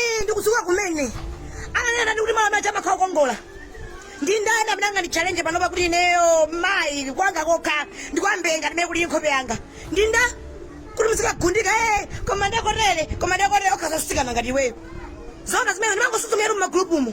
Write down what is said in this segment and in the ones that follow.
Ii, ndikuzuka kumene ananena ndi kuti malo amene aja amakhala okongola ndi ndani amene angandichallenge panopa kuti ineyo mayi kwanga kokha ndi kwa mbee ngati mmene kuli nkhope yanga ndi nda kuti muzikagundika e koma ndakotele koma ndakotele okha asikana ngati iweyo zona zimene ndimangosuzumira mu magulupumu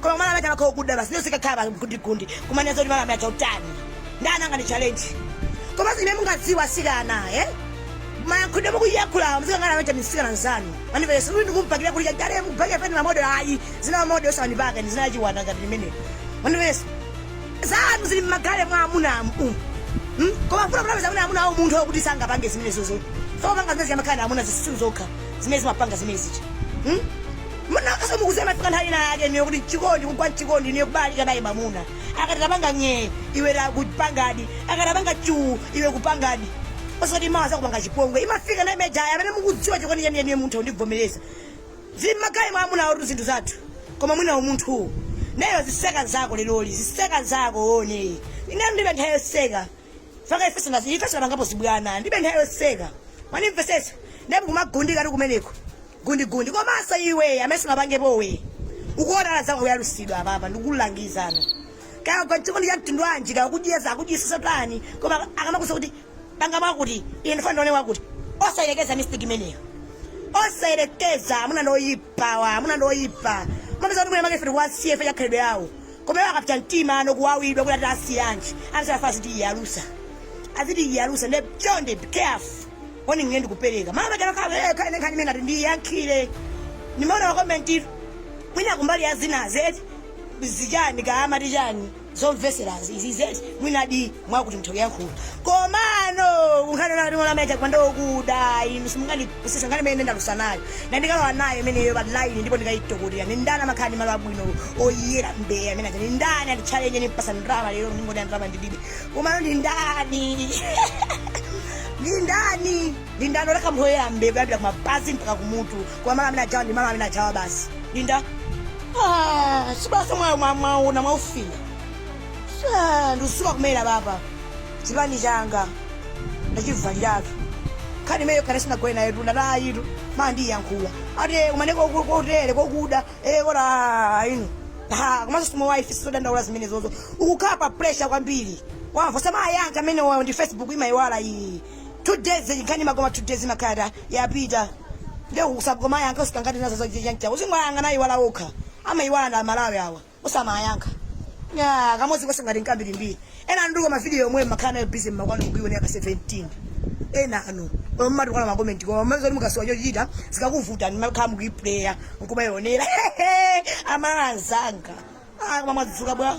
koma malo amene aja amakhala okuda basi nde uzikakhala pa gundigundi kumanena zoti malo amene aja utani ndani angandichallenge komanso zimene mukudziwa asikana eh mayankhulidwe mukuyankhulawo muzikangana amene aja ndi msikana nzanu manipele sikuti ndikumubakira kuti chagale mubhake pene mamodo ayi zina mamodo osandipaka ndi zina chiwanda ngati limene manipele zanu zili mmagallery mwa amuna amu Hmm? koma funa kunapeza kuti amuna awo munthu okuti sangapange zimenezozo sokupanga zimene zija amakhala amuna zisiru zokha zimene zimapanga zimene zija Hmm? Munakhaso mukuziwa imafika nthawi ina yake inuyo kuti mchikondi kugwa mchikondi inuyo kubalalika naye mamuna akati tapanga nyee iwe kupangadi akati tapanga chuu iwe kupangadi osati mawa zakupanga chipongwe imafika nthawi imene ija ya amene mukudziwa chikondi cheni cheniyo muntha kundivomereza zili mmagallery mwa amuna athu zinthu zathu koma mwina umunthuwo nayo ziseka nzako leroli ziseka nzako one ine ndibe nthawi yoseka fukwa ifeso nazo ifeso tinapangapo zibwana ndibe nthawi yoseka mwandimvesesa ndipo kumagundika ndi kumeneko gundigundi komanso iwe amene sunapangepowe ukuona anzako ayalusidwa apapa ndikulangizano kaya kwa chikondi cha mtundu wanji kaya kudyeza akudyisisa tani koma akamakuuza kuti panga mwakuti ine ndikufuna ndione wakuti osayelekeza mistake imeneyo osayelekeza amuna ndoyipa wa amuna ndoyipa umapeza kuti mwina makefe ndikuwasiyefe chakhalidwe yawo Koma iwo akapsa mtima ndi kuwawidwa kuti ati asiyanji ati safa azitiyiyalusa azitiyiyalusa nde chonde be careful warning ine ndikupeleka malo paja lokha ee khala ine nkhani imene ndati ndiyiyankhule ndimaona ma comment tu mwina kumbali ya zinazi eti zichani kaya amati chani zomveselazi izizi eti mwinadi mwakuti mutha kuyankhula komano kunkhani ya malo amene ajawa ndokuda inu simungandipusisa nkhani imene ndalusa nayo na ndikalowa nayo imeneyo pa line ndipo ndikayitokotera ni ndani amakhala ndi malo abwino oyera mbee amene aja ni ndani anditchalenje ndimpasa ndrama lero ndingoti ndrama ndilibe komano ndi ndani ndi ndani ndi ndani oleka oyera mbee kuyambira kumapazi mpaka kumutu koma malo amene ajawa ndi malo amene ajawa basi ndi nda Ah, sibasa mwayo mwaona mwaufila ndikuzuka kumene apapa chipani changa ndachivaliratu nkhani imeneyo khale sinagone nayo tunda nayitu ma ndiyankhula ati eh, kumane koku- kotere kokuda eh, kora ino ha komanso simo wife sizodandaula zimenezozo ukukhala pa pressure kwambiri wamva usamayankhe amenewayo ndi facebook imayiwala iyi two days nkhani imakoma two days imakhala yapita nde usakamayankhe usikangati nazo zojancha uzingowayang'ana ayiwala okha amayiwala aMalawi awa osamayankha Ya, kamodzi kanso ngati nkambirimbiri ena anu ndipo mavidiyo yomweyo mmakhala nayo bizi mmakwanu kuiwonera ka 17 ena anu omwe mmatukwana makomenti koma mmene zoti mukasowa chochita zikakuvutani mmakhala mukuipuleya nkumayionera amala anzanga Ah, koma mwadzuka bwa